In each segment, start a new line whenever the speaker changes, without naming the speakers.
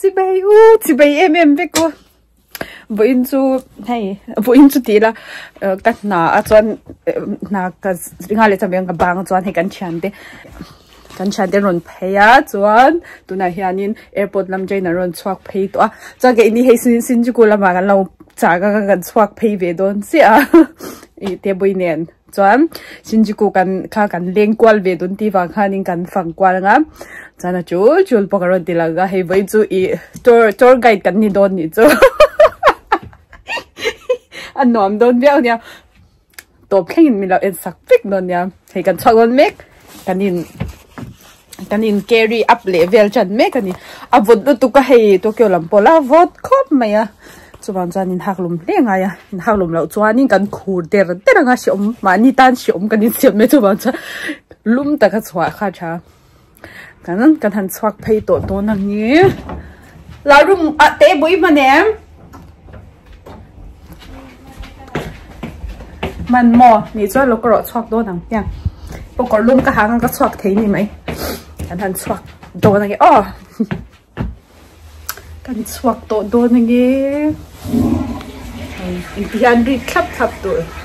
Chibei u chibei em em vek u. Buin chu hei buin chu ti la ka hna a chuan hna ka ringa le chawmeng ka bang chuan hei kan thian te kan thian te rawn phei a chuan tunah hianin airport lam train a rawn chhuak phei tawh a chuan ka ini hei sin Shinjuku lamah kan lo chak a kan chhuak phei ve dawn chiah a i te buin nen. Chuan Shinjuku kan kha kan leng kual ve dun tih vang khanin kan fang kual ang a. Chuan a chul chul pawh ka rawn ti lang a, hei vawi chu i tour tour guide kan ni dawn nih chu a nuam dawn viau nia. Tawp thlengin min lo en sak vek dawn nia. Hei kan chhuak dawn mek kanin kan in carry up leh vel tan mek a ni a vawt lutuk a hei Tokyo lam pawh la vawt khawp mai a chuvang chuan in haklum hle ngai a in haklum loh chuan in kan khur der der anga hrehawm mahni tan hrehawm kan insiam mai chuvang chuan lum taka chhuah kha tha kan kan han chhuak phei tawh dawn ang e la room ah teh bawih hman em man mo ni chuan lo ka rawh chhuak dawn ang hian pawkawr lum ka hang ka chhuak thei ni mai kan han chhuak dawn ang e aw kan chhuak tawh dawn ang e engtihian rit thlap thlap tur.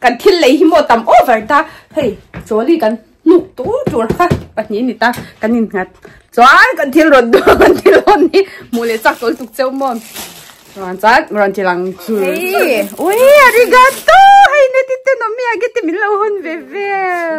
Kan thil lei hi maw tam over ta. Hei, chawli kan hnuk tur tur kha pahnih ni ta kan in nghat. Chuan kan thil rawn duh kan thil hawn hi hmuh leh chak tawl tuk cheu maw. Chuan chuan rawn thil ang chu. Hei, ui arigato, hei neti te nawm mi age te min lo hawn ve vel.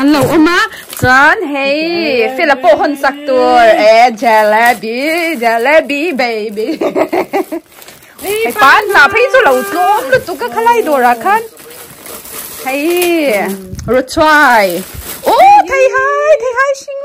An lo awm a, chuan hei fela pawh hawn chak tur e jalebi jalebi baby hei pan hna phei chu lo tlawm lutuk a khalai dawrah khan hei ruchhuai oh theihai theihai hring.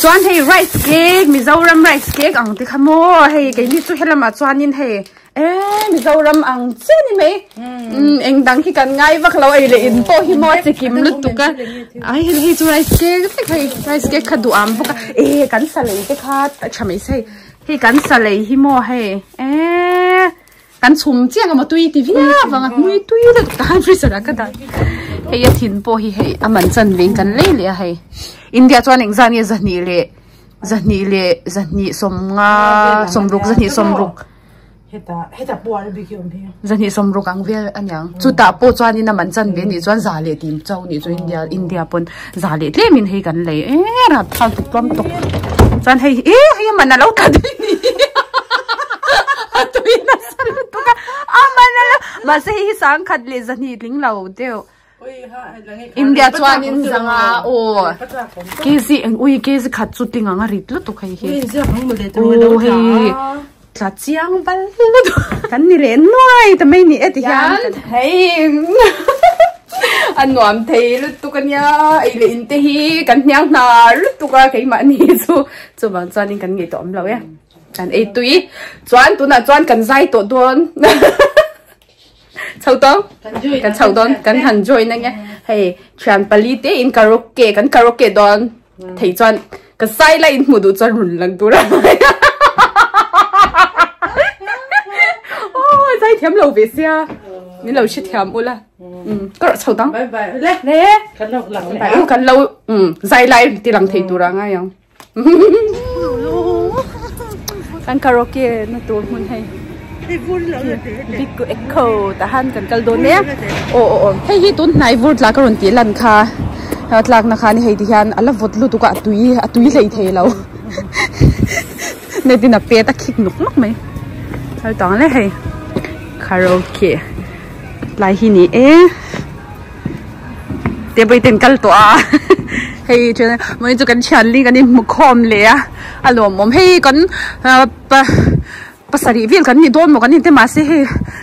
Chuan hei rice cake, Mizoram rice cake ang te kha maw, hei keini chu helamah chuanin hei eee Mizoram ang chiah ni mai, eng dang hi kan ngai vak lo, ei leh in pawh hi maw a che kim lutuk a, ai hei hei chu rice cake vek hei, rice cake kha duh ang bawk a, ee kan salei te kha tha mai se hei, hei kan salei hi maw hei eee. Kan chhum chiang ama tui ti viau vang a mui tui deuh tak tahan freezer ah ka dah hei a thin pawh hi hei a man chan veng kan lei leh a hei India chuan eng zani zahnih leh zahnih leh zahnih sawmnga sawmruk zahnih sawmruk heta
heta pawh a bik awm hi zahnih sawmruk ang
vial aniang chutah pawh chuan in a man chan ve nih chuan za leh tim chau nih chu India India pawn za leh tlem in hei kan lei eh rat thar tuk tlawm tuk chuan hei eh hei aman alo tla daih ni a tui nasa lutuk a aman alo mahse hei hi sangkhat leh zahni tling lo deuh India chuan in zanga aw kg ui kg khat chu ting anga rit lutuk hei hi oh hei hi. tla chiang val la dawh kan ni leh nuai ta mai ni e ti hian hei a nuam thei lutuk a nia ei leh in te hi kan hniang hna lutuk a keimah ni chu chuvang chuan in kan ngei tawh awm lo e kan ei tui chuan tunah chuan kan zai tawh dawn chau to kan chau don kan han join anh hei thian pali te in karaoke kan karaoke don thei chuan ka sai la in mudu chuan run lang tura oh sai thiam lo ve sia ni lo shi thiam ula um ka ro chau dang bye bye le le
kan lo lang le kan lo um
zai lai ti lang thei tura ngai ang kan karaoke na tur hmun hei big ku echo ta han kan kal don nia o o o hei hi tun hnai vur tlak ron ti lan kha tlak na kha ni hei ti hian ala vawt lu tuk a tui a tui hlei thei lo net in a pet a khik nok nok mai hal tang le hei karaoke tlai hi ni e table ten kal tawh a hei thianah mai chu kan thianli kan inhmu khawm leh a a lawmawm hei kan pa pasarih vel kan ni dawn maw kan ni te mahse hei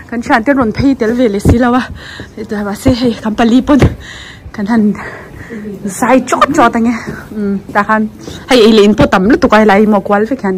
kan thian te rawn phei tel ve leh si lo a hetiang mahse hei kan pali pawn kan han zai chawt chawt ange ta khan hei eilehin pawh tam lutuk a helai hi maw kual vek hian.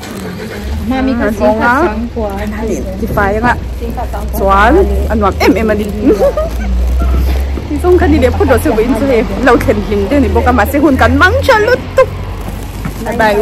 Kan awm a,
tifai anga chuan a nuam em em a ni, ti chuan kha ni leh phawt loh chu vawiin chu hei lo thlen hlim daih a ni bawk a mahse hun kan mang tha lutuk a ni.